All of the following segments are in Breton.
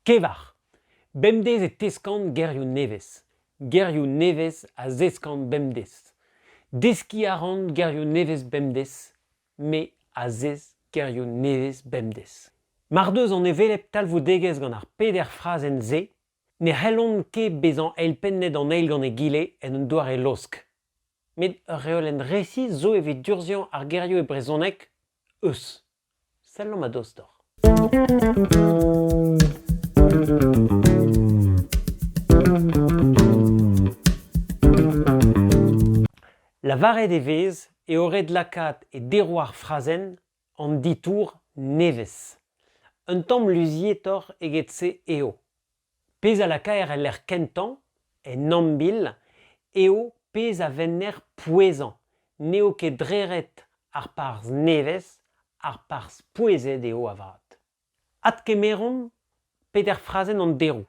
Kevar. Bemdez e teskan gerioù nevez. Gerioù nevez a zeskan bemdez. Deskiñ a ran gerioù nevez bemdez, me a zesk gerioù nevez bemdez. Mar deus an hevelep talvoudegezh gant ar peder frazenn-se, ne c'hellont ket bezañ eilpennet an eil gant egile en un doare laosk. Met ur reolenn resis zo evit durzhiañ ar gerioù e brezhoneg eus. Sellomp a-dostoc'h. Lavaret e vez eo ret lakaat e derou ar frazenn an ditour nevez. Un tamm luzietoc'h eget-se eo. Pezh a lakaer el lec'h kentañ, en ambil, eo pezh a venner pouezañ. N'eo ket dreret ar parzh nevez, ar parzh pouezet eo avat. Adkemeromp peder frazenn an deroù.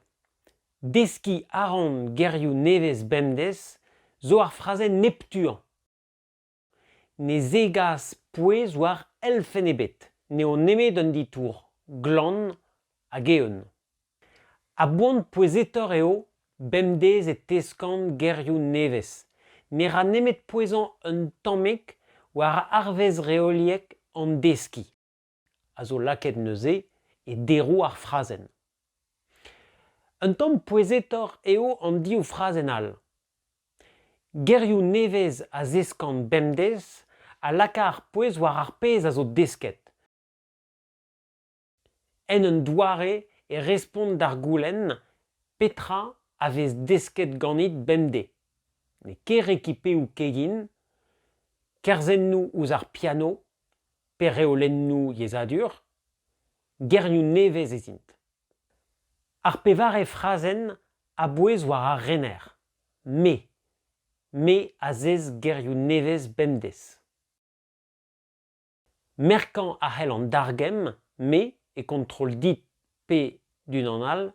Deskiñ a ran gerioù nevez bemdez zo ar frazenn neptuañ. Ne zegas pouez war elfenn ebet, n'eo nemet un ditour, glan hag eeun. A-boan pouezetoc'h eo bemdez e teskan gerioù nevez. Ne ra nemet pouezañ un tammig war arvez reoliek an deskiñ. a zo lakaet neuze e deroù ar frazenn. Un tamm pouezetoc'h eo an div frazenn all. Gerioù nevez a zeskan bemdez a laka ar pouez war ar pezh a zo desket. En un doare e respont d'ar goulenn petra a vez desket ganit bemdez. N'eo ket rekipeoù kegin, kerzennoù ouzh ar piano Pe-reolennoù yezhadur, gerioù nevez ez int. Ar pevare frazenn a bouez war ar rener « me ». Me a zez gerioù nevez bemdez. Merkañ a c'hell an dargemm « me » e kontrol dit. pe d'unan all,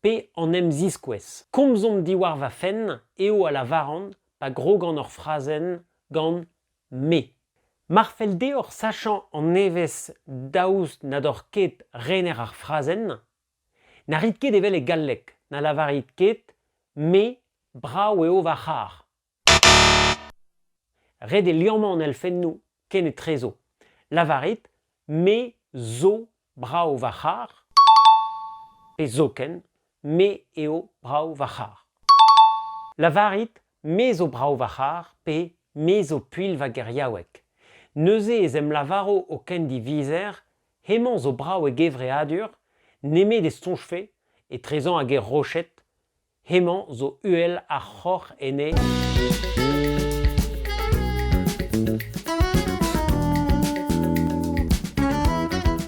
pe an em ziskouez. Komzomp diwar va fenn eo a lavaran pa grogan ur frazenn gant me. Mar fell deoc'h sachañ an evezh daoust na doc'h ket rener ar frazenn, na rit ket evel e galleg, na lavarit ket me brav eo va c'harr. Ret eo liammañ an elfennoù kenetrezo. Lavarit me zo brav va c'harr pe zoken me eo brav va c'harr. Lavarit me zo brav va c'harr pe me zo puilh va geriaoueg. Neuze ez em lavaro o kendivizer hemañ zo brav e gevreadur nemet e soñjfe etrezañ hag e roched Hemañ zo uhel ar c'hoc'h ene.